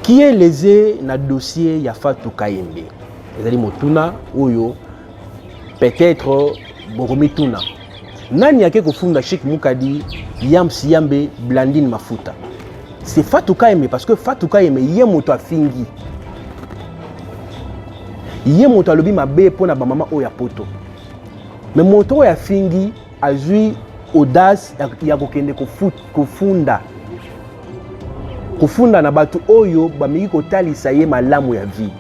qui est lese na dossier ya Fatou Kayembe ezali motuna oyo peut-être bokomituna nani ake kofunda Chic Mukadi Yams Yambe Blandine Mafuta c'est Fatou Kayembe parce que Fatou Kayembe ye moto afingi ye moto alobi mabe mpo na bamama oyo ya poto me moto oyo afingi azwi audace ya kokende kofunda kofunda na bato oyo bameki kotalisa ye malamu ya vie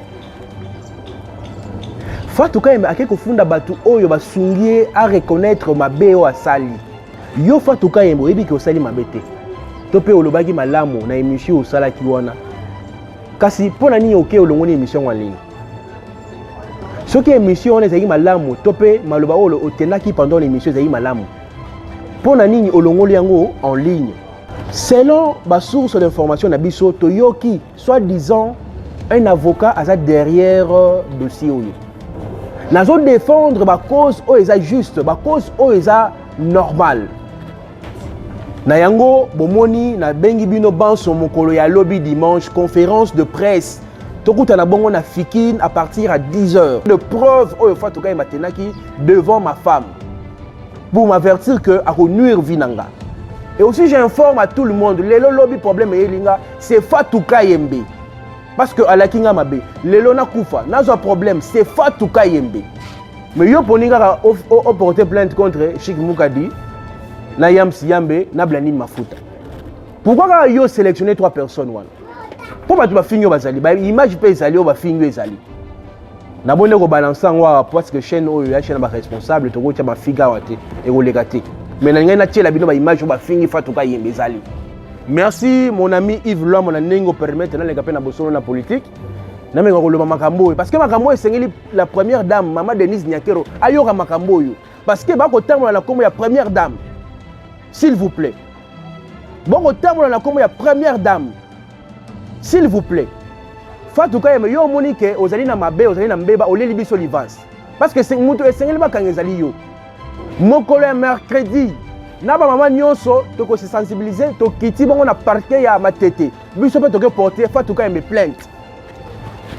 fatu kayembe ake kofunda bato oyo basungi ye areconnaitre mabe oyo asali yo fatu kayembe oyebi ke osali mabe te to mpe olobaki malamu na emission osalaki wana kasi mpo na nini oke olongoni emission yango ya lelo soki émission wana ezalaki malamu to mpe maloba oyo otendaki pendant l'émission ezalaki malamu mpo na nini olongoli yango en ligne selon basource d'information na biso toyoki soit disant un avocat aza derrière euh, dossier oyo nazo défendre bacause oyo eza juste bacause oyo eza normale na yango bomoni nabengi bino banso mokolo ya lobi dimanche conférence de presse tokutana bongo na fikine à partir ya 10 heures de preuve oyo fatukai matenaki devant ma femme pour m'avertir que akonuire vie na nga et aussi j'informe à tout le monde lelo lobi problème eyeli nga c'est fatukai yembe parce que alaki nga mabe lelo nakufa nazwa problème c'est fatou kayembe mais yo poni kaka oporte plainte contre chic mukadi na yams yambe na blandine mafuta pourquoi kaka yo sélectionne trois personnes wana mpo bato bafingi oyo bazali baimage mpe ezali oyo bafingi oyo ezali naboni nde kobalanse yango awa parce que chaîne oyo ya chaîne ya baresponsable tokotya mafiga awa te ekoleka te mais na ngai natyela bino baimage oyo bafingi fatuka yembe ezali merci mon ami yves lwamo na ndenge opermettre naleka mpe na bosolo na politique nameka koloba makambo oyo parce que makambo oyo esengeli la première dame mama denise nyakero ayoka makambo oyo parce que bakotambola na nkombo ya première dame s'il vous plaît bokotambola na nkombo ya première dame s'il vous plaît Fatou Kayembe yo omoni ke ozali na mabe ozali na mbeba oleli biso livance parce que moto esengeli bakanga ezali yo mokolo ya mercredi na bamama nyonso tokose sensibilize tokiti bango na parke ya matete biso mpe toke porte Fatou Kayembe plainte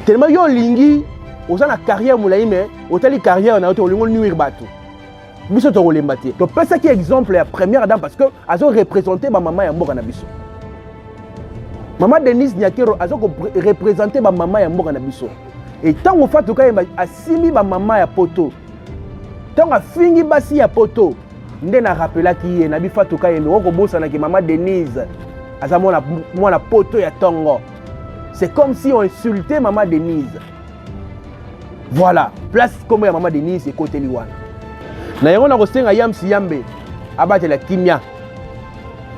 telema yo olingi oza na carrière molai me otali carrière na yo te olingi onuire bato biso tokolemba te topesaki exemple ya première dame parce que azo représente bamama ya mboka na biso mama denise nyakero aza korepresente bamama ya mboka na biso e ntango fatu kayemba asimbi bamama ya poto ntango afingi basi ya poto nde na rapelaki ye na bifatu kayemba okobosanaki mama denise aza mwana poto ya ntongo c'est comme si on insulte mama denise voilà place nkombo ya mama denise ekoteli wana na yango nakosenga yamsi yambe abatela kimia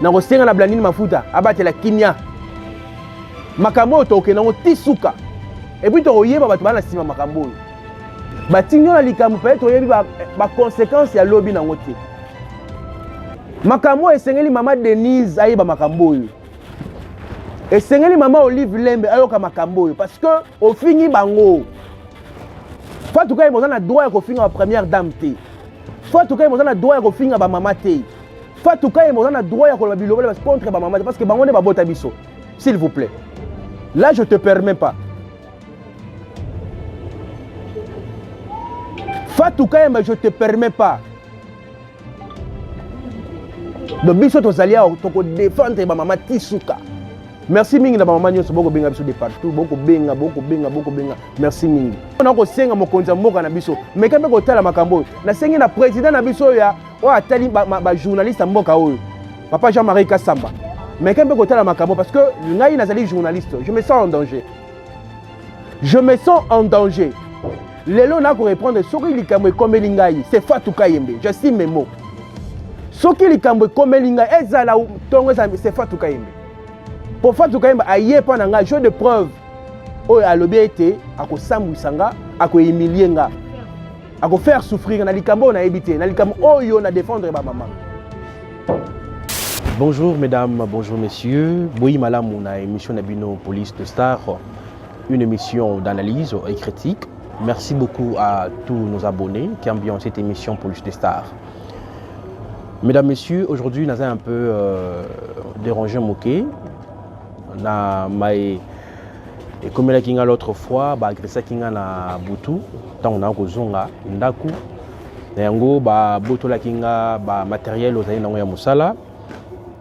nakosenga na blandini mafuta abatela kimia makambo oyo tokokende yango ti suka epuis tokoyeba bato baa na nsima makambo oyo batindi yo na likambo peye toyebi bakonsekanse ya lobi na yango te makambo oyo esengeli mama denise ayeba makambo oyo esengeli mama olive lembe ayoka makambo oyo parce que ofingi bango fatu kaye boza na droit ya kofinga ba première dame te fatu kaye boza na droit ya kofinga bamama te fatu kaye boza na droit ya koloba bilobela contre bamama te parce que bango nde babota biso s'il vous plaît là je te permets pas fatu kayemba je te permets pas donc biso tozali awa tokodefendre bamama ti suka merci mingi na bamama nyonso bokobenga biso de partout bokobenga bokobenga bokobenga merci mingi mpona kosenga mokonzi ya mboka na biso meka mpe kotala makambo oyo nasengi na président na biso oyo oyo atali bajournaliste ya mboka oyo papa jean marie kasamba meka mpe kotala makambo parce que ngai nazali journaliste je me sens en danger je me sens en danger lelo nako reprendre soki likambo ekomeli ngai c'est Fatou Kayembe je suis mes mots soki likambo ekomeli ngai ezala ntongo ezala c'est Fatou Kayembe mpo Fatou Kayembe aye epai na ngai jeu de preuve oyo alobi ete akosambwisa nga akohumilie nga ako faire souffrir na likambo oyo nayebi te na likambo oyo na défendre ba mama bonjour mesdames bonjour messieurs boyi malamu na émission na bino police de star une émission d'analyse et critique merci beaucoup à tous nos abonnés qui ambiancent cette émission police de star mesdames messieurs aujourd'hui naza un peu euh, dérangé moqué na maye ekomelaki nga l'autre fois baagressaki nga na butu ntango naa kozonga ndako na yango babotolaki nga bamateriel ozali nango ya mosala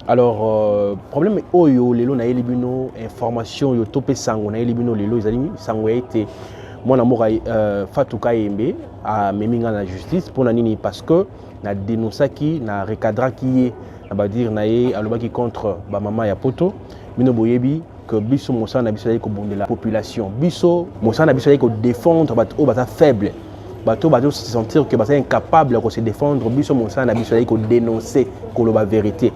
alors euh, problème oyo lelo nayeli bino information oyo to mpe sango nayeli bino lelo ezali sango ya ete mwana mboka euh, fatou kayembe amemi nga na justice mpo na nini parce que na denonsaki na recadraki ye na badire na ye alobaki contre bamama ya poto bino boyebi que biso mosala na biso ezali kobundela population biso mosala na biso ezali kodefendre bato oyo baza faible bato oyo bazo se sentir que baza incapable ya kose défendre biso mosala na biso ezali kodenonce koloba verité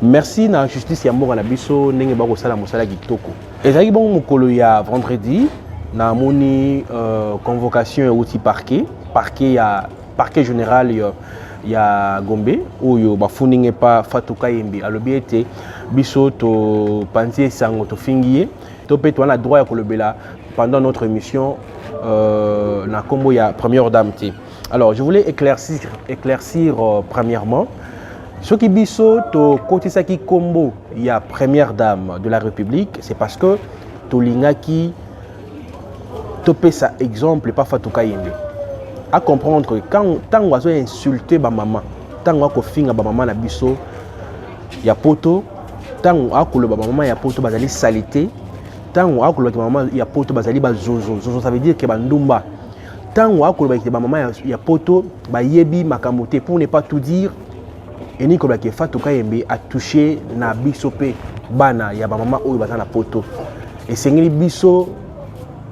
merci na justice ya mboka na biso ndenge bakosala mosala kitoko ezalaki bongo mokolo ya vendredi namoni euh, convocation euti parquet parquet ya Parquet general yo ya Gombe oyo bafuninga epa Fatou Kayembe alobi ete biso topanzi ye sango tofingi ye to mpe toa na droit ya kolobela pendant notre émission euh, na nkombo ya première dame te alors je voulais éclaircir, éclaircir euh, premièrement soki biso tokotisaki nkombo ya première dame de la république c'est parce que tolingaki topesa exemple epa fatou kayembe acomprendre que ntango azo insulte bamama ntango akofinga bamama na biso ya poto ntango akoloba bamama ya poto bazali salite ntango akolobaki bamama ya poto bazali bazozo zozo ça veut dire ke bandumba ntango akolobaki bamama ya, ya poto bayebi makambo te pour ne pas tout dire elingi koloba ke fatou kayembe atouche na biso mpe bana ya bamama oyo baza na poto esengeli biso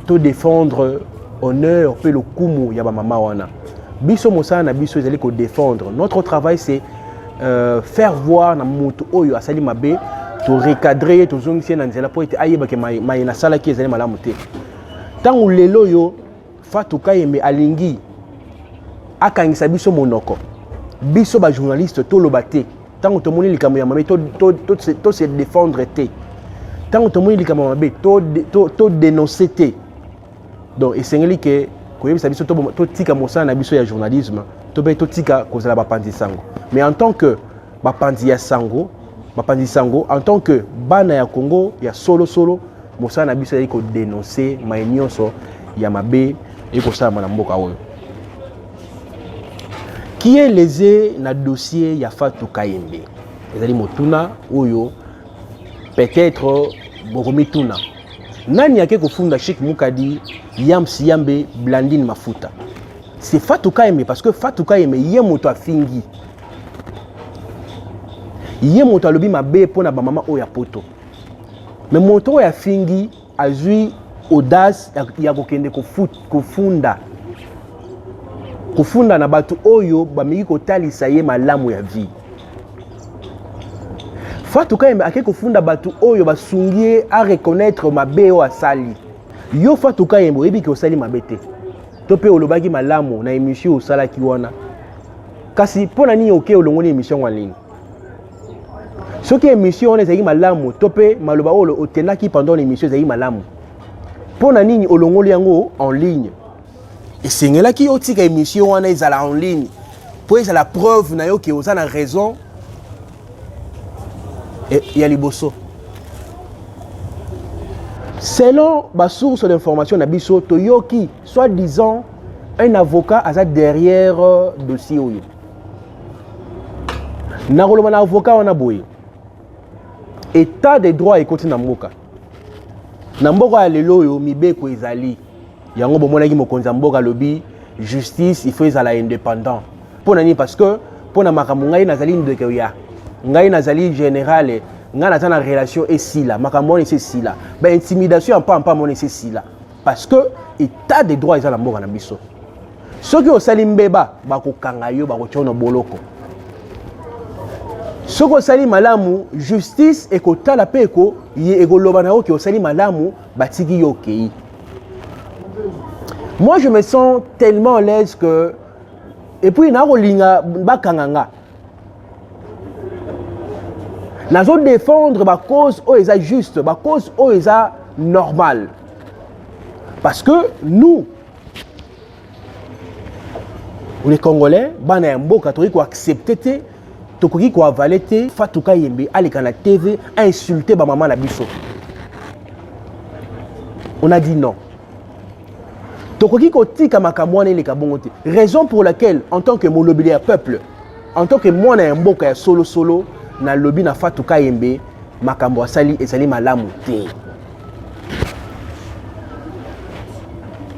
to défendre honneur mpe lokumu ya bamama wana biso mosala na biso ezali ko défendre notre travail c'est euh, faire voir na moto oyo asali mabe torecadre ye tozongisi ye na nzela mpo ete ayebake maye nasalaki ezali malamu te ntango lelo oyo Fatou Kayembe alingi akangisa biso monoko biso ba journaliste toloba te ntango tomoni likambo ya mabe to, to, to, to, to se défendre te ntango tomoni likambo ya mabe to, to, to dénoncer te donc esengeli ke koyebisa biso totika to mosala na biso ya journalisme to mpe totika kozala bapanzi sango mais en tant que bapanzi ya sango bapanzi sango en tant que bana ya congo ya solosolo solo, Mosala na biso ezali ko denoncer mai nyonso ya mabe ekosalama na mboka oyo qui est lese na dossier ya Fatou Kayembe ezali motuna oyo peut-être bokomituna nani ake kofunda Sheikh Mukadi Yams Yambe Blandine Mafuta c'est Fatou Kayembe parce que Fatou Kayembe ye moto afingi ye moto alobi mabe mpo na bamama oyo ya poto me moto oyo afingi azwi audace ya kokende kofunda kofunda na bato oyo bameki kotalisa ye malamu ya vie fatu kayembe ake kofunda bato oyo basungi ye areconnaitre mabe oyo asali yo fatu kayembe oyebi ke osali mabe te to mpe olobaki malamu na emission osalaki wana kasi mpo na nini oke olongoli emission yango ya nini soki émission wana ezalaki malamu to mpe maloba oyo otendaki pendant l'émission ezalaki malamu mpo na nini olongoli yango en ligne esengelaki otika émission wana ezala en ligne mpo ezala preuve na yo ke oza na raison e, ya liboso selon basource d'information na biso toyoki soit disant un avocat aza derrière euh, dossier oyo nakoloba na avocat wana boye etat de droit ekoti na mboka na mboka ya lelo oyo mibeko ezali yango bomonaki mokonzi ya mboka alobi justice il faut ezala indépendant mpo na nini parce que mpo na makambo ngai nazali ndeko ya ngai nazali générale ngai naza na relation esila makambo wana esi esila baintimidation ya mpampa mona esi esila parce que état de droit eza na mboka na biso soki osali mbeba bakokanga yo bakotya na boloko soki osali malamu justice ekotala mpe eko, ekoloba na yo ke osali malamu batiki yo okei moi je me sens tellement à l'aise que et puis nakolinga bakanga nga nazo défendre bacause oyo eza juste bacause oyo eza normal parce que nous les congolais bana ya mboka tokoki koaccepte te tokoki koavale te fatuka yembe aleka na tv ainsulte bamama na biso on a dit non tokoki kotika makambo wana eleka bongo te raison pour laquelle en tant que molobeli ya peuple en tant que mwana ya mboka ya solosolo nalobi na fatu kayembe makambo asali ezali malamu te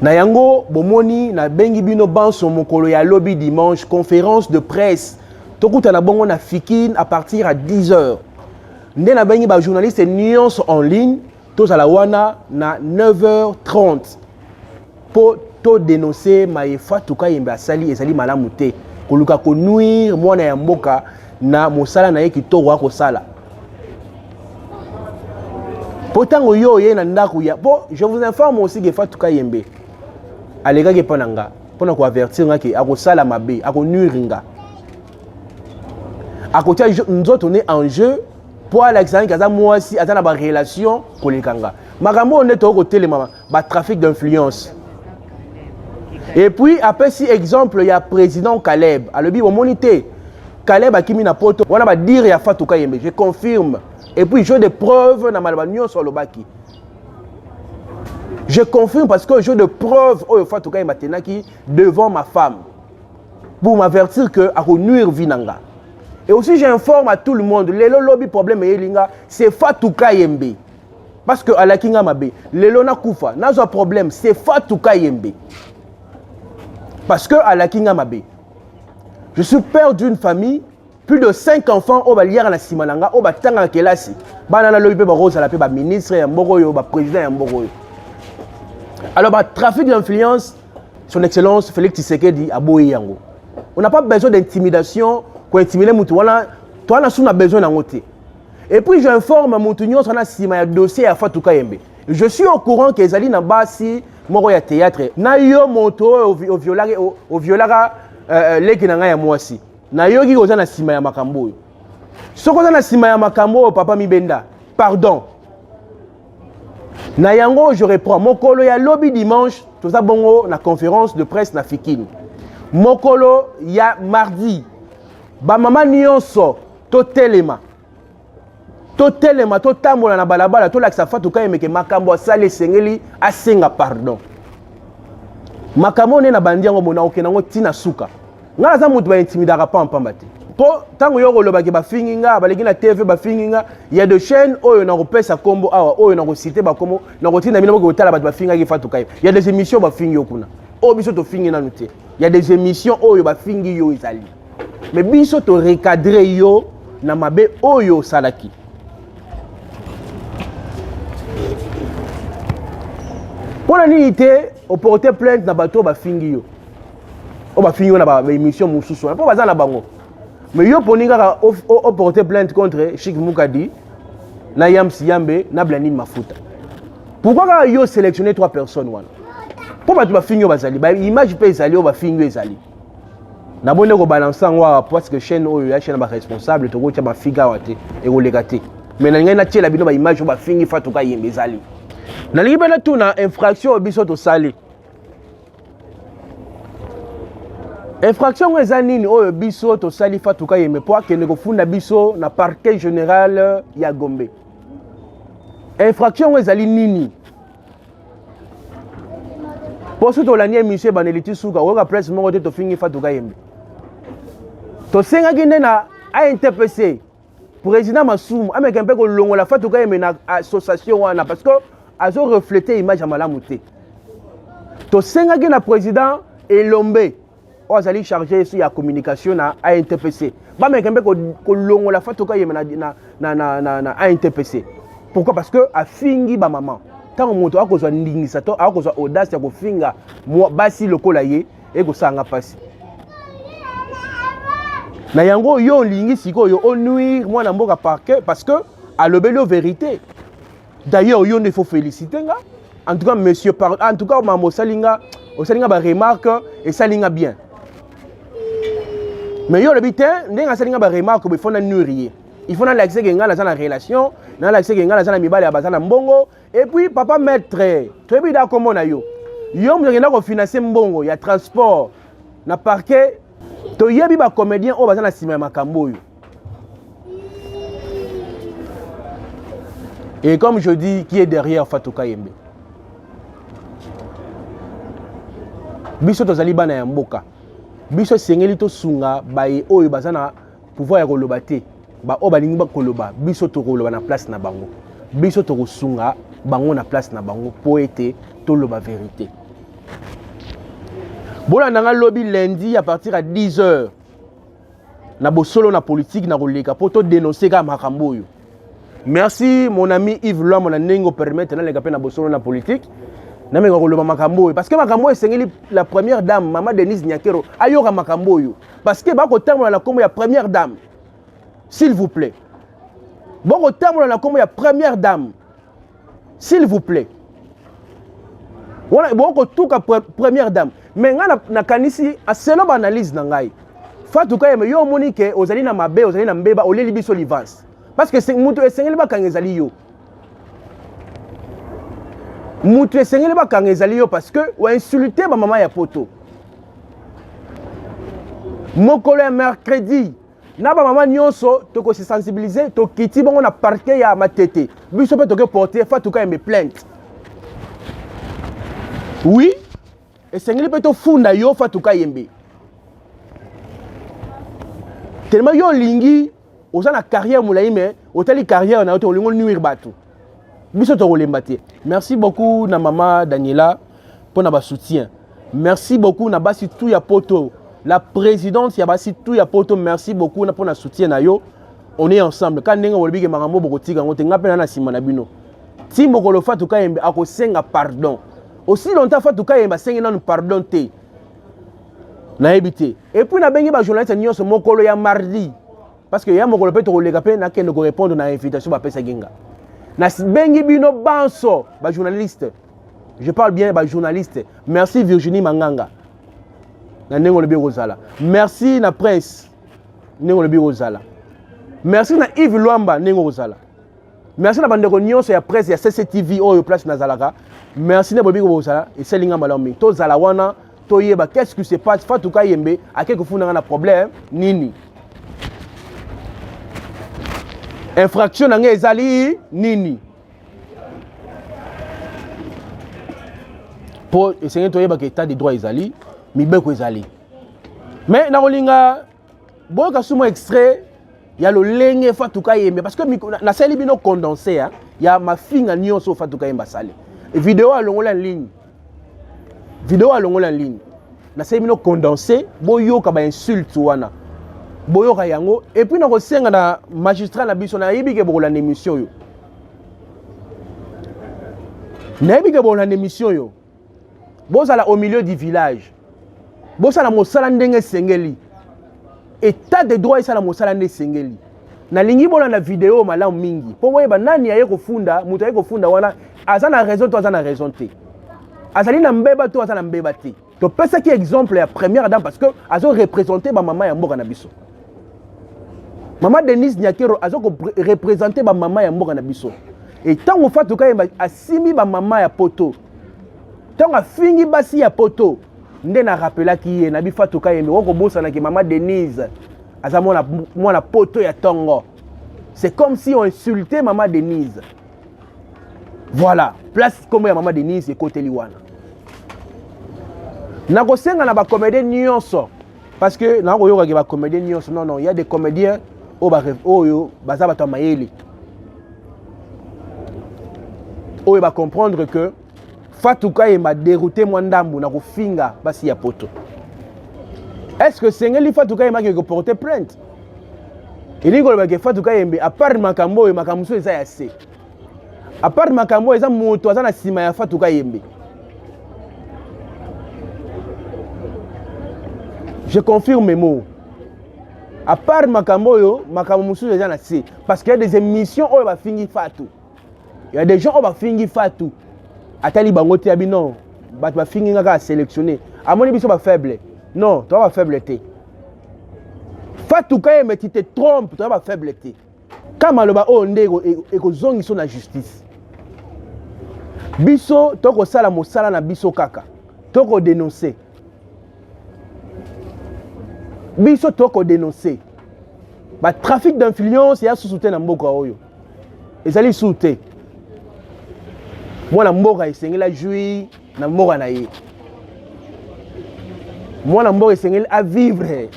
na yango bomoni nabengi bino banso mokolo ya lobi dimanche conférence de presse tokutana bongo na fikine à partir ya 10 heures nde nabengi bajournaliste nyonso en ligne tozala wana na 9h30 mpo todenonse maye fatu kayembe asali ezali malamu te koluka konuire mwana ya mboka na mosala na ye kitoko akosala mpo ntango yo oye na ndako ya mpo je vous informe aussi ke fatu kayembe alekaki epai na nga mpo na koavertir nga ke akosala mabe akonuire nga akotia nzoto ne en jeu mpo alakisa naki aza mwasi aza na barelation koleka nga makambo oyo nde tokoki kotelemama batrafic d'influence epuis apesi exemple ya président caleb alobi omoni te caleb akimi na poto wana badire ya fatuka yembe je confirme epuis jeu de preuve na maloba nyonso alobaki je confirme parce que jeu de preuve oyo fatuka yembe atenaki devant ma femme pour m'avertir que ako nuire vie na nga et aussi j'informe à tout le monde lelo lobi problème eyeli nga c'est Fatou Kayembe parce que alaki nga mabe lelo nakufa nazwa problème c'est Fatou Kayembe parce que alaki nga mabe je suis père d'une famille plus de 5 enfants oyo baliaka na nsima na nga oyo batangaka kelasi bana na lobi mpe bakozala mpe baministre ya mboka oyo baprésident ya mboka oyo alors batrafic d'influence son excellence félix tshisekedi aboyi yango on n'a pas besoin d'intimidation kointimide motu wana toa na su na besoin yango te et puis j'informe motu nyonso wana nsima ya dossier ya fatu kayembe je suis au courant ke ezali na basi moko ya théâtre na yo moto oyo oviolaka euh, euh, leki na ngai ya mwasi nayoki oza na nsima ya makambo oyo soki oza na nsima ya makambo oyo papa mibenda pardon na yango je reprends mokolo ya lobi dimanche toza bongo na conférence de presse na fikini mokolo ya mardi bamama nyonso totelema totelema totambola na balabala tolakisa fatu kayemeke makambo asali esengeli asenga pardon makambo oyo nde nabandi yango mona okende yango ntina suka ngai naza moto baintimidaka pampamba te mpo ntango yo okolobaki bafingi nga baleki na tv bafingi nga ya de chaîne oyo nakopesa nkombo awa oyo nakosite bakombo nakotinda bino boke kotala bato bafingaki fatukai ya des émissions bafingi yo kuna oyo biso tofingi nanu te ya des émissions oyo bafingi yo ezali mais biso to recadre yo na mabe oyo osalaki mpo na nini te oporte plainte na bato oyo bafingi yo oyo bafingi yo na baémission mosusu wana mpo baza na bango mais yo poni kaka oporte plainte contre chik mukadi na yams yambe na blandine mafuta pourquoi kaka yo sélectionne trois personnes wana mpo bato bafingi oyo bazali baimage mpe ezali oyo bafingi oyo ezali nabonde kobalanse yango awa parce que chaîne oyo ya chaîne ya baresponsable tokotya bafiga awa te ekoleka te mais nalingai natyela bino baimage oyo bafingi fatuka yembe ezali nalingi mpe natuna infraction oyo biso tosali infraction yango eza nini oyo biso tosali fatuka yembe mpo akende kofunda biso na parquet général ya gombe infraction yango ezali nini mpo soki tolandi emission ebandeli ti suka oyoka presse moko te tofingi fatuka yembe tosengaki nde na intpc président masumu ameka mpe kolongola fatuka yembe na association wana parce que azo reflete image ya malamu te tosengaki na président elombe oyo azali charge sur la communication na ANTPC bameke mpe kolongola Fatou Kayembe na, na, na, na, na, na ANTPC pourquoi parce que afingi bamama ntango moto akozwa ndingisa to akozwa audace ya kofinga basi lokola ye ekosanga mpasi na yango yo olingi sikoyo onuire mwana mboka parke parce que alobeli yo verité D'ailleurs yo nde faut féliciter nga. En tout cas monsieur par en tout cas maman osali nga osali nga ba remarque esali nga bien. Mais yo lobi te ndenge asali nga ba remarque il faut na nuire ye. Il faut na lakisa ke nga naza na relation, na lakisa ke nga naza na mibali ya baza na mbongo et puis papa maître, toyebi da kombo na yo. Yo moto akenda ko financer mbongo ya transport na parquet toyebi ba comédien oyo baza na nsima ya makambo oyo Et comme je dis, qui est derrière Fatou Kayembe biso tozali bana ya mboka biso esengeli tosunga baye oyo baza na pouvoir ya koloba te baoyo balingi bakoloba biso tokoloba na place na bango biso tokosunga bango na place na bango mpo ete toloba verité bolanda ngai lobi lundi à partir ya 10 heures na bosolo na politique na koleka mpo to denonse kaka makambo oyo merci mon ami yves lwamo na ndenge opermettre naleka mpe na bosolo na politique nameka koloba makambo oyo parceke makambo oyo esengeli la première dame mama denise nyakero ayoka makambo oyo parceke bakotambola na nkombo ya première dame s'il vous plaît bokotambola na nkombo ya première dame s'il vous plaît wana ebongo kotuka première dame me ngai nakanisi aselo baanalyse na ngai fatu kayeme yo omoni ke ozali na mabe ozali na mbeba oleli biso livance parce que moto esengeli bakanga ezali yo moto esengeli bakanga ezali yo parce que oinsulte bamama ya poto mokolo ya mercredi na bamama nyonso tokosi sensibilize tokiti bongo na parke ya matete biso mpe toke porte fatuka yembe plainte wi esengeli mpe tofunda yo fatuka yembe telema yo olingi oza na carrière molai me otali carrière na yo te olingi onuire bato biso tokolemba te merci beaucoup na mama daniela mpo na basoutien merci beaucoup na basi tu ya poto la présidente ya basi tu ya poto merci beaucoup mpo na soutien na yo on est ensemble ka ndenge bolobi ke makambo bokotika yango te ngai mpe na na nsima na bino ti mokolo fatu kayembe akosenga pardon aussi longtemps fatu kayembe asengi nanu pardon te nayebi te epuis nabengi bajournaliste nyonso mokolo ya mardi parce que ya mokolo mpe tokoleka mpe nakende korépondre na invitation bapesaki nga nabengi bino banso bajournaliste je parle bien bajournaliste merci virginie manganga na ndenge olobi ekozala merci na prince ndenge olobi ekozala merci na yves lwamba ndenge okozala merci na bandeko nyonso ya presse ya cctv oyo place nazalaka merci na boyebi kobosana esali nga malamu mingi tozala wana toyeba qu'est ce qui se passe fatou kayembe ake kofunda nga na problème nini infraction na nga ezali nini mpo esengeli toyebaka état de droit ezali mibeko ezali me nakolinga boyoka sumo extrait ya lolenge fatuka yembe parce que nasali bino condense ya, ya mafinga nyonso fatuka yembe asali video alongola ligne video alongola ligne nasali bino condense boyoka bainsulte wana boyoka yango epuis nakosenga na magistrat na biso nayebi ke bokolanda émission oyo nayebi ke bokolanda émission oyo bozala au milieu du village bosala mosala ndenge esengeli etat de droit esala mosala nde esengeli nalingi bolanda video malamu mingi mpo boyeba nani aye kofunda moto aye kofunda wana aza na raison to aza na raison te azali na mbeba to aza na mbeba te topesaki exemple ya première dame parce que azo représente bamama ya mboka na biso mama denise nyakero aza korepresente bamama ya mboka na biso e ntango fatu kayemba asimbi bamama ya poto ntango afingi basi ya poto nde na rapelaki ye na bifatu kayembe okobosanaki mama denise aza mwana, mwana poto ya tongo c'est comme si on insultait mama denise voilà place nkombo ya mama denise ekoteli wana nakosenga na bakomede nyonso parce que na koyoka ke ba comédien nyonso non non il y a des comédiens oyo ba oyo baza bato ya mayele oyo ba comprendre que Fatou Kayemba dérouté mwa ndambu na kofinga basi ya poto est-ce que sengeli Fatou Kayemba ke ko porter plainte elingi koloba ke Fatou Kayembe apart makambo oyo makambo mosusu eza ya se apart makambo oyo eza moto aza na nsima ya fatu kayembe je confirme mo apart makambo oyo makambo mosusu eza na se parce que ya des émissions oyo bafingi fatu ya des gens oyo bafingi fatu atali bango te ya bino bato bafingi nga kaka sélectionné amoni biso bafaible non toza bafaible te fatu kayembe ti te trompe toza bafaible te ka maloba oyo nde ekozongiso na justice biso tokosala mosala na biso kaka tokodenonse biso tokodenonse batrafic d'influence ya susu te na mboka oyo ezali lisusu te mwana mboka esengeli ajui na mboka na ye mwana mboka esengeli avivre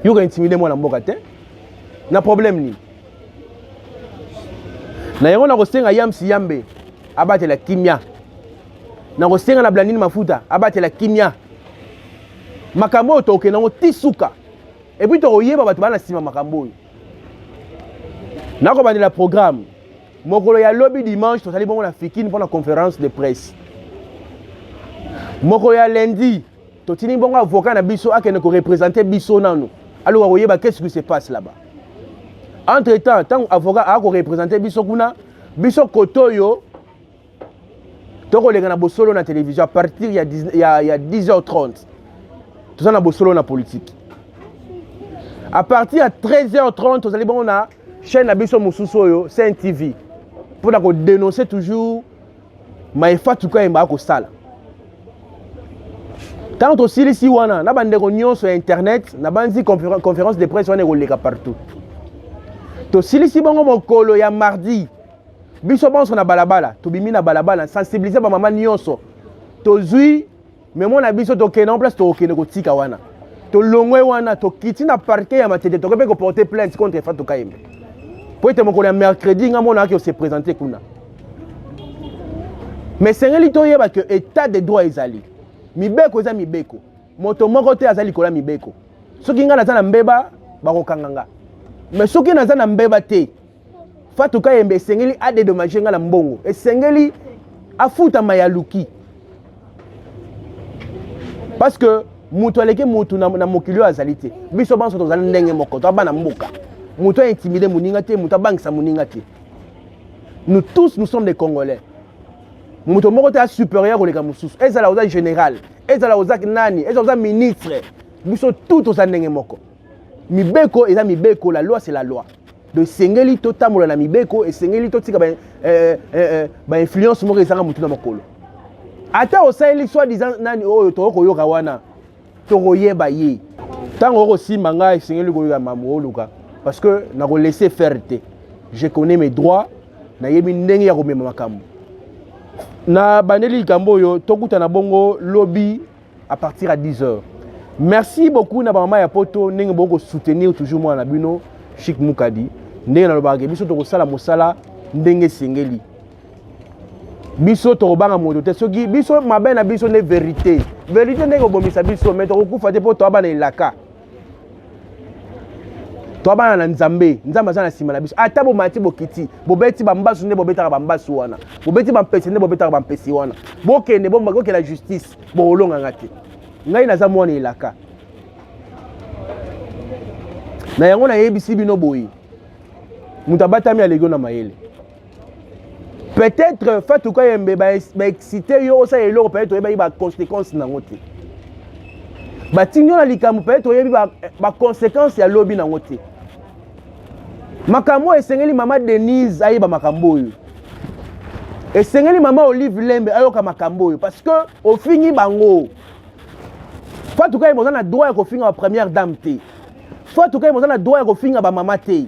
yoka intimide mwana mboka te na problème nini na yango nakosenga yamsi yambe abatela kimia nakosenga na blandine mafuta abatela kimia makambo oyo tokokende yango ti suka epuis tokoyeba bato baa na nsima makambo oyo nakobandela programme mokolo ya lobi dimanche tozali bongo na fikine mpo na conférence de presse mokolo ya lundi Totini bongo avocat na biso akende ko representer biso nanu. Aloka koyeba qu'est-ce qui se passe là-bas. Entre temps, tant avocat a ko representer biso kuna, biso kotoyo tokoleka na bosolo na télévision à partir ya 10, ya, ya 10h30 toza na bosolo na politique à partir ya 13h30 tozali bongo na chaîne na biso mosusu oyo saint tv mpo na kodénonce toujours maye fatu kayemba akosala ntango tosilisi wana na bandeko nyonso ya internet nabanzi conférence de presse wana ekoleka partout tosilisi bongo mokolo ya mardi biso banso na balabala tobimi na balabala sensibilize bamama nyonso tozwi me mwana biso tokende yango place tokokende kotika wana tolongwe wana tokiti na parke ya matete tokoki mpe koporte plainte contre fatu kayembe mpo ete mokolo ya mercredi nga mona ake ose présente kuna me esengeli toyeba ke état de droit ezali mibeko eza mibeko moto moko te aza likolo ya mibeko soki ngai naza na mbeba bakokanga nga me soki naza na mbeba te Fatou Kayembe esengeli a dédommager nga na mbongo. Esengeli afuta mayaluki. Parce que mutu aleki mutu na, na mokili oyo azali te. Biso banso tozali ndenge moko, to bana mboka. Mutu a intimider moninga te, mutu abangisa moninga te. Nous tous nous sommes des Congolais. Mutu moko te a supérieur koleka mosusu. Ezala oza général, ezala oza nani, ezala oza ministre. Biso tout oza ndenge moko. mibeko eza mibeko la loi c'est la loi donc esengeli totambola na mibeko esengeli totika ba, eh, eh, eh, ba influence moko ezanga motu na makolo ata osaleli soi disant nani oyo tokoki koyoka wana tokoyeba ye ntango okosimba ngai esengeli koyoka mambo oluka parce que nakolese faire te je connais mes droits nayebi ndenge ya komema makambo na bandeli likambo oyo tokutana bongo lobi à partir à 10 heures merci beaucoup na bamama ya poto ndenge boki kosoutenir toujours mwana na bino chic mukadi ndenge nalobaka ke biso tokosala mosala ndenge esengeli biso tokobanga moto te soki biso mabe na biso nde verité verité ndenge kobomisa biso me tokokufa te mpo toaba na elaka toa bana na nzambe nzambe aza na nsima na biso ata bomati bokiti bobeti bambasu nde bobetaka bambasu wana bobeti bampese nde bobetaka bampese wana bokende bokela justice bokolonganga te ngai naza mwana elaka na yango nayebisi bino boye moto abatami alegio na mayele peut-être fatou kayembe baexcite ba yo osala eloko peut-être oyebaki baconséquence nango te batindi yo na likambo peut-être oyebi baconséquence ba ya lobi nango te makambo oyo esengeli mama denise ayeba makambo oyo esengeli mama olive lembe ayoka makambo oyo parce que ofingi bango fatou kayembe oza na droit ya kofinga ba première dame te fatou kayembe oza na droit ya kofinga bamama te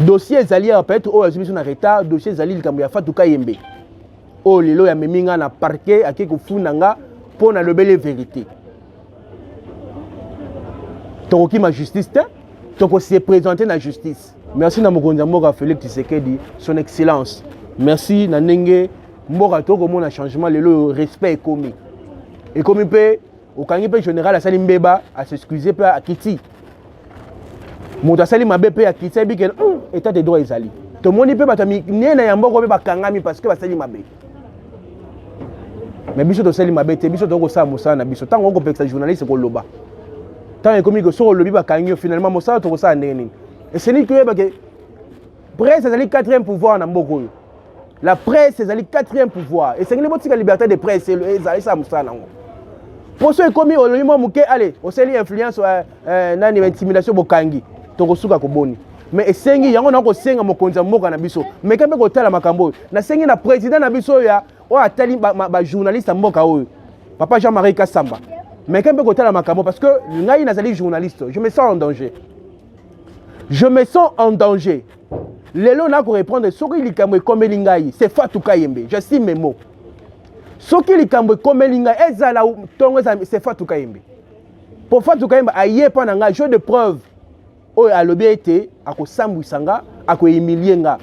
dossier ezali ya peut-être oyo azwi biso na retard dossier ezali likambo ya Fatou Kayembe oyo lelo ya memi nga na parquet ake kofunda nga mpo na lobele verité tokokima justice te tokose présente na justice merci na mokonzi ya mboka Felix Tshisekedi son excellence merci na ndenge mboka tokomona changement lelo oyo respect ekomi ekomi mpe okangi mpe general asali mbeba asexcuse mpe akiti moto asali mabe mpe akiti ayebi ke hmm, etat de droit ezali tomoni mpe bato minene ya mboko mpe bakangami parce que basali mabe me biso tosali mabe te biso tokosala mosala na biso ntango okopekisa journaliste koloba ntango ekomi soki olobi bakangi yo finalement mosala tokosala ndenge nini esengeli toyeba ke presse ezali quatrième pouvoir na mboka oyo la presse ezali quatrième pouvoir esengeli botika liberté de presse ezalisa mosala nango mpo so ekomi olobi mwa moke ale osali influence euh, euh, nani intimidation bokangi tokosuka koboni mais esengi yango na kosenga mokonzi ya mboka na biso meka mpe kotala makambo oyo nasengi na président na biso oyo oyo atali bajournaliste ya mboka oyo papa jean marie kasamba meka mpe kotala makambo parce que ngai nazali journaliste je me sens en danger je me sens en danger lelo nako reprendre soki likambo ekomeli ngai c'est Fatou Kayembe je suis memo soki likambo ekomeli ngai ezala tongo ezala c'est Fatou Kayembe mpo Fatou Kayembe aye mpo na ngai jeu de preuve oyo alobi ete akosambwisa nga akohumilie nga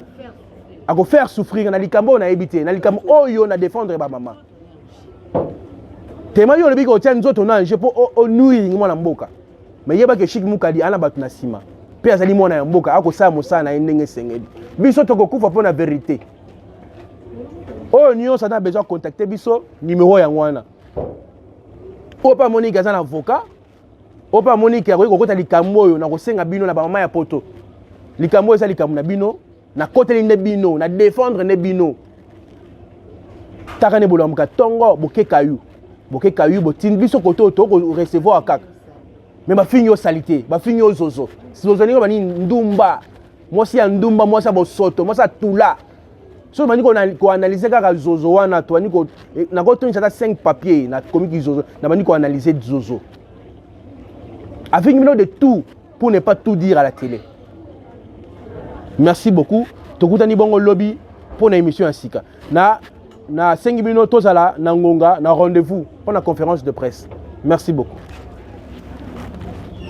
akofaire souffrir na likambo oyo nayebi te na likambo oyo na défendre bamama tema yo olobi kotia nzoto na ange mpo onuiringi mwana mboka mais yeba ke Chic Mukadi ana batu na sima pe azali mwana ya mboka akosala mosala na ye ndenge esengeli biso tokokufa mpo na verite oyo nyonso aza na besoin contacte biso numero yango wana oyo mpe amoniki aza na avocat oyo mpe amoniki akoki kokota likambo oyo na kosenga bino na bamama ya poto likambo oyo eza likambo na bino nakoteli nde bino na defendre nde bino taka nde bolamuka tongo bokeka yo bokeka yo botindi biso kote oyo tokorecevoir kaka me bafingi yo salite bafingi yo zozo zozo ndenge banini ndumba mwasi ya ndumba mwasi ya bosoto mwasi ya tula soki bandi koanalyse kaka zozo wana tobandi eh, nakotondisa ata 5 papier nakomi kizozo nabandi koanalyse zozo afingi bino de tout pour ne pas tout dire à la télé merci beaucoup tokutani bongo lobi mpo na émission ya sika na nasengi bino tozala na ngonga na rendez-vous mpo na conférence de presse merci beaucoup